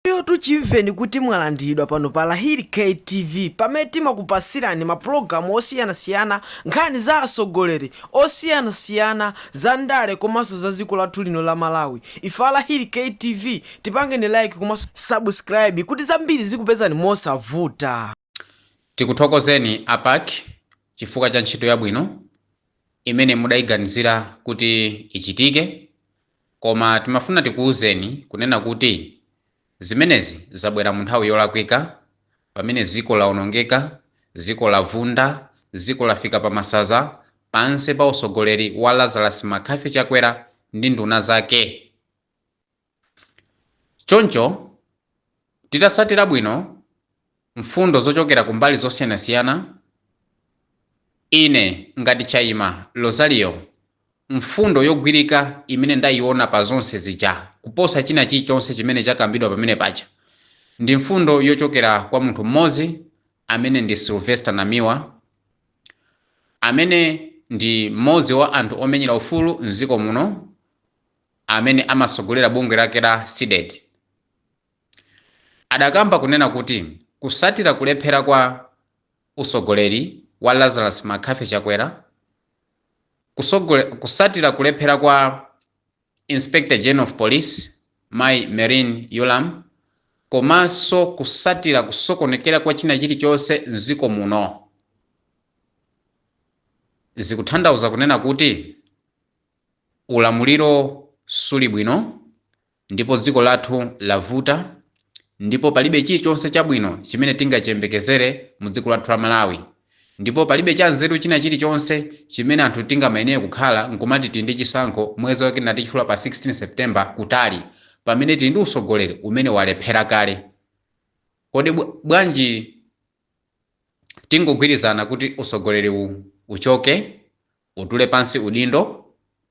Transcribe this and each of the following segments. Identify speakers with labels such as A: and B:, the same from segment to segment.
A: Inuyotu chimveni kuti mwalandiridwa pano pa Lahiri K TV pamene timakupasirani ma pulogalamu osiyanasiyana, nkhani za atsogoleri osiyanasiyana, za ndale komanso za dziko lathu lino la Malawi. Ife a Lahiri K TV tipangeni like komanso subscribe kuti zambiri zikupezani mosavuta.
B: Tikuthokozeni a PAC chifukwa cha ntchito yabwino imene mudayiganizira kuti ichitike koma timafuna tikuuzeni kunena kuti zimenezi zabwera mu nthawi yolakwika pamene ziko laonongeka, ziko lavunda, ziko lafika pa masaza pansi pa usogoleri wa Lazarus McCarthy Chakwera ndi nduna zake. Choncho, titatsatira bwino mfundo zochokera ku mbali zosiyanasiyana, ine ngati Chaima Lozario, mfundo yogwirika imene ndaiona pa zonse zija kuposa china chilichonse chimene chakambidwa pamene paja, ndi mfundo yochokera kwa munthu mmodzi amene ndi Sylvester Namiwa, amene ndi mmodzi wa anthu omenyera ufulu m'dziko muno. amene amatsogolera bungwe lake la CDEDI, adakamba kunena kuti kutsatira kulephera kwa utsogoleri wa Lazarus McCarthy Chakwera, kutsatira kulephera kwa Inspector General of Police Mayi Merlyne Yolamu komanso kutsatira kusokonekera kwa china chilichonse m'dziko muno, zikuthandauza kunena kuti Ulamuliro suli bwino, ndipo dziko lathu lavuta, ndipo palibe chilichonse chabwino chimene tingachiyembekezere mu dziko lathu la Malawi, ndipo palibe cha nzeru china chilichonse chimene anthu tingamayenere kukhala nkumati tili ndi chisankho mwezi wake natichula pa 16 September kutali, pamene tili ndi usogoleri umene walephera kale. Kodi bwanji tingogwirizana kuti usogoleri uchoke Utule pansi udindo?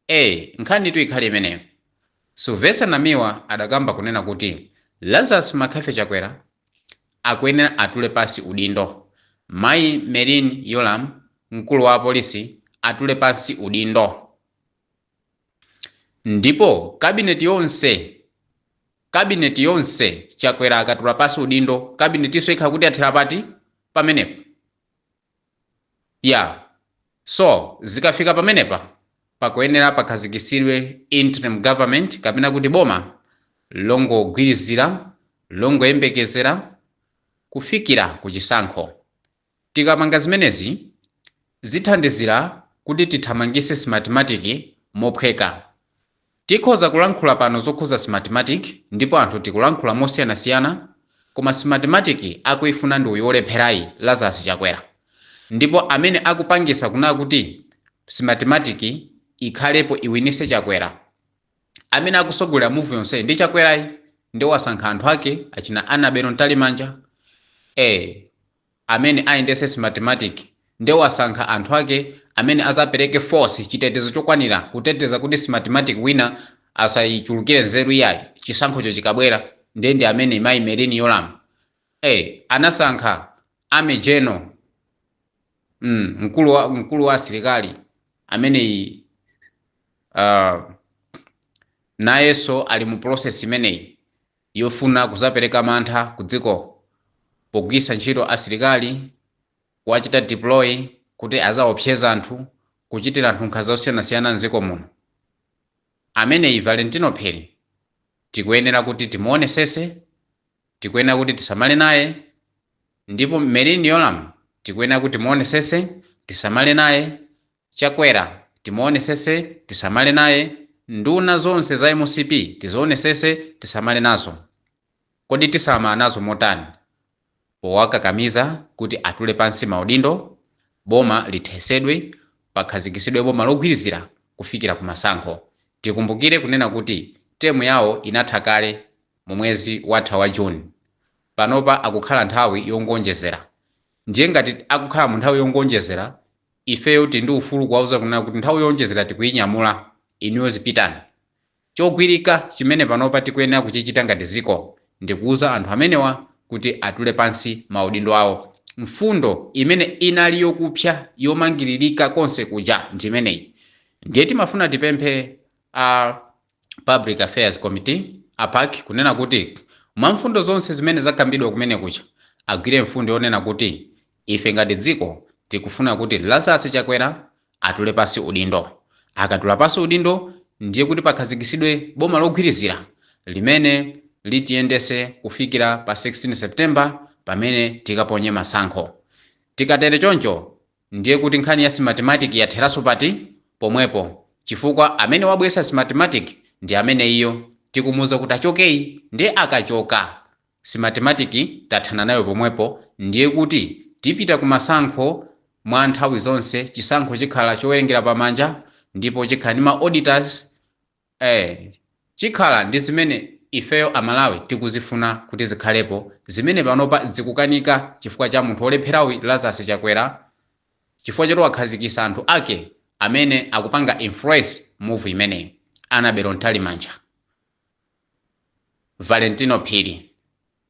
B: Ee, nkhanitu ikhale imeneyo. Sylvester Namiwa adakamba kunena kuti Lazarus McCarthy Chakwera akuyenera atule pansi udindo, Mayi Merlyne Yolamu, mkulu wa apolisi atule pansi udindo ndipo kabineti yonse, kabineti yonse, Chakwera akatula pansi udindo kabineti iso ikhala kuti yathera pati pamenepo? Yeah so zikafika pamenepa pakuyenera pakhazikitsidwe interim government kapena kuti boma longogwirizira longoyembekezera kufikira ku chisankho. Tikapanga zimenezi zithandizira kuti tithamangise Smartmatic mophweka. Tikhoza kulankhula pano zokhuza Smartmatic ndipo anthu tikulankhula mosiyanasiyana koma Smartmatic akuifuna ndi uyu olepherayi Lazarus Chakwera ndipo amene akupangisa kunena kuti Smartmatic ikhalepo iwinise Chakwera amene akusogolera move yonseyi ndi Chakwerayi nde wasankha anthu ake achina Annabel Mtalimanja ee Amene ayendese smartmatic nde wasankha anthu ake amene azapereke force, chitetezo chokwanira kuteteza kuti smartmatic wina asayichulukire nzeru iyayi, chisankhocho chikabwera nde ndi amene mayi Merlyne Yolamu anasankha Army General mkulu wa asilikali ameneyi nayenso ali mu process imeneyi yofuna kuzapereka mantha ku dziko pogwiritsa ntchito asilikali, kuwachita deploy kuti azaopseze anthu, kuchitira anthu nkhanza zosiyanasiyana m'dziko muno, ameneyi Valentino Phiri tikuyenera kuti timuonesese, tikuyenera kuti tisamale naye, ndipo Merlyne Yolamu tikuyenera kuti timuonesese, tisamale naye, Chakwera timuonesese tisamale naye, nduna zonse za MCP tizionesese tisamale nazo. Kodi tisamala nazo motani? Powakakamiza kuti atule pansi maudindo, boma lithesedwe, pakhazikisidwe boma logwirizira kufikira ku masankho. Tikumbukire kunena kuti term yawo inatha kale mu mwezi watha wa June. Panopa akukhala nthawi yongoonjezera. Ndiye ngati akukhala mu nthawi yongoonjezera Ifeyo tili ndi ufulu kuwauza kunena kuti nthawi yoonjezera tikuinyamula, inuyo zipitani. Chogwirika chimene panopa tikuyenera kuchichita ngati dziko ndi kuuza anthu amenewa kuti atule pansi maudindo awo. Mfundo imene inali yokupsa yomangiririka konse kuja ndi imeneyi. Ndiye timafuna tipemphe a. Public Affairs Committee, a PAC, kunena kuti mwa mfundo zonse zimene zakambidwa kumene kuja, agwire mfundo yonena kuti ife ngati dziko tikufuna kuti Lazarus Chakwera atule pansi udindo. Akatula pansi udindo ndiye kuti pakhazikisidwe boma logwirizira limene litiyendese kufikira pa 16 September pamene tikaponye masankho. Tikatere choncho Ndiye kuti nkhani ya Smartmatic yatheraso pati? Pomwepo, chifukwa amene wabweresa Smartmatic ndi ameneyiyo tikumuuza kuti achokeyi nde akachoka Smartmatic tathana nayo pomwepo ndiye kuti tipita ku masankho mwa nthawi zonse chisankho chikhala chowerengera pamanja ndipo chikhala ndi ma auditors Eee chikhala ndi zimene ifeyo a Malawi tikuzifuna kuti zikhalepo zimene panopa dzikukanika chifukwa cha munthu olepherayu Lazarus Chakwera chifukwa choti wakhazikisa anthu ake amene akupanga influence move imeneyi Annabel Mtalimanja, Valentino Phiri,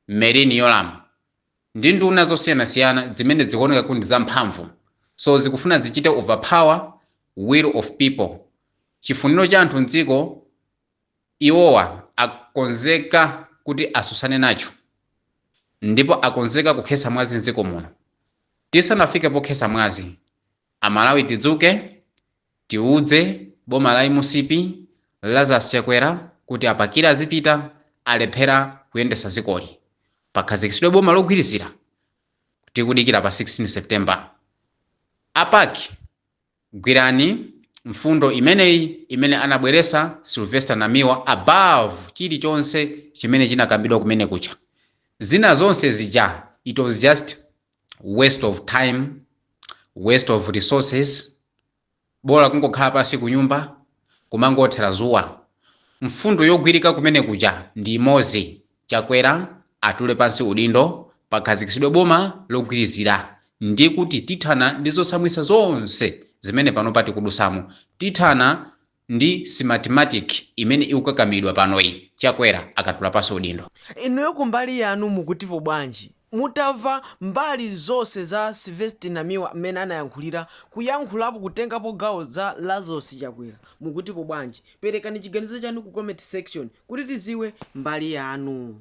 B: Merlyne Yolamu. ndi nduna zosiyanasiyana zimene dzikuoneka kuti ndi zamphamvu so zikufuna zichite overpower will of people, chifuniro cha anthu mdziko, iwowa akonzeka kuti asusane nacho ndipo akonzeka kukhesa mwazi mdziko muno. Tisanafike pokhesa mwazi, a Malawi tidzuke Tiudze boma la MCP Lazarus Chakwera kuti apakire azipita alephera kuyendesa zikoli pakhazikisidwe boma logwirizira tikudikira pa 16 September a PAC gwirani mfundo imeneyi imene anabweresa Sylvester Namiwa above chilichonse chimene chinakambidwa kumene kuja zina zonse zija it was just waste of time waste of resources bola kungokhala pansi kunyumba kumangothera zuwa mfundo yogwirika kumene kuja ndi imozi Chakwera atule pansi udindo pakhazikisidwe boma logwirizira ndi kuti tithana ndi zotsamwitsa zonse zimene panopa tikudusamo tithana Ndi Smartmatic imene ikukakamiridwa panoyi, Chakwera akatula pansi udindo. Inuyo kumbali
A: yanu mukutipo bwanji mutava mbali zonse za Sylvester Namiwa mmene anayankhulira, kuyankhulapo, kutengapo gawo za Lazarus Chakwera mukutipo bwanji perekani chiganizo chanu ku comment section kuti tiziwe mbali yanu.